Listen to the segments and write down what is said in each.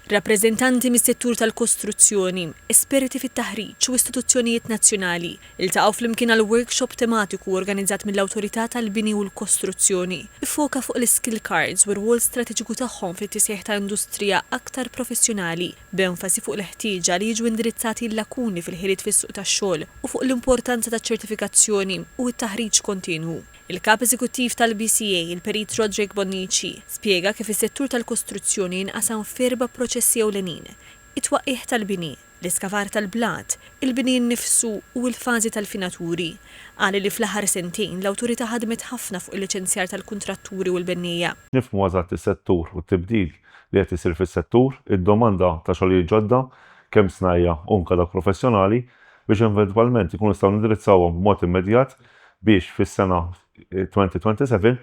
Rappreżentanti mis-settur tal-kostruzzjoni, esperti fit-taħriġ u istituzzjonijiet nazzjonali ltaqgħu flimkien għal workshop tematiku organizzat mill-Awtorità tal-Bini u l-Kostruzzjoni, iffoka fuq l-iskill cards u r-rwol strateġiku tagħhom fit-tisħiħ ta' industrija aktar professjonali, b'enfasi fuq il-ħtieġa li jiġu indirizzati l-lakuni fil-ħiliet fis-suq tax-xogħol u fuq l-importanza taċ-ċertifikazzjoni u t-taħriġ kontinwu. Il-Kap Eżekuttiv tal-BCA, il-Perit Roderick Bonnici, spjega kif is-settur tal-kostruzzjoni jinqasam f'erba' proċessi ewlenin, it-twaqqigħ tal-bini, l-iskavar tal-blat, il-bini nnifsu u l-fażi tal-finaturi. Qal li fl-aħħar sentejn l-Awtorità ħadmet ħafna fuq il-liċenzjar tal-kuntratturi u l-benniejja. Nifhmu eżatt is-settur u t-tibdil li qed isir fis-settur, id-domanda ta' xogħlijiet ġodda, kemm snajja' u anke dawk professjonali, biex eventwalment inkunu nistgħu nindirizzawhom b'mod immedjat biex fis-sena 2027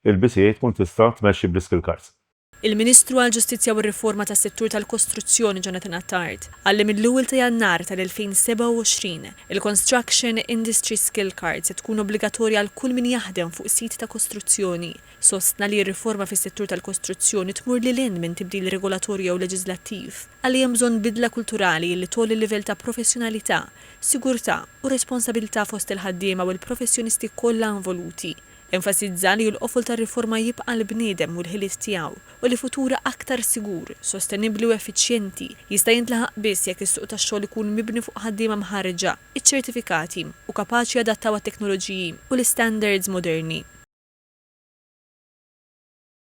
il-BCA tkun tista' tmexxi bl-iskill cards. Il-Ministru għall-Ġustizzja u r-Riforma tas-Settur tal-Kostruzzjoni Jonathan Attard qal li mill-ewwel ta' Jannar tal-2027 il-Construction Industry Skill Card se tkun obbligatorja għal kull min jaħdem fuq sit ta' kostruzzjoni. Sostna li r-riforma fis-settur tal-kostruzzjoni tmur lil hinn minn tibdil regolatorju jew leġiżlattiv. Qal li hemm bżonn bidla kulturali li tgħolli l-livell ta' professjonalità, sigurtà u responsabilità fost il-ħaddiema u l-professjonisti kollha involuti. Enfasizza li l-qofol tar-riforma jibqa' l-bniedem u l-ħiliet tiegħu u li futur aktar sigur, sostenibbli u effiċjenti jista' jintlaħaq biss jekk is-suq tax-xogħol ikun mibni fuq ħaddiema mħarrġa, iċċertifikati u kapaċi jadattaw għat-teknoloġiji u l-istandards moderni.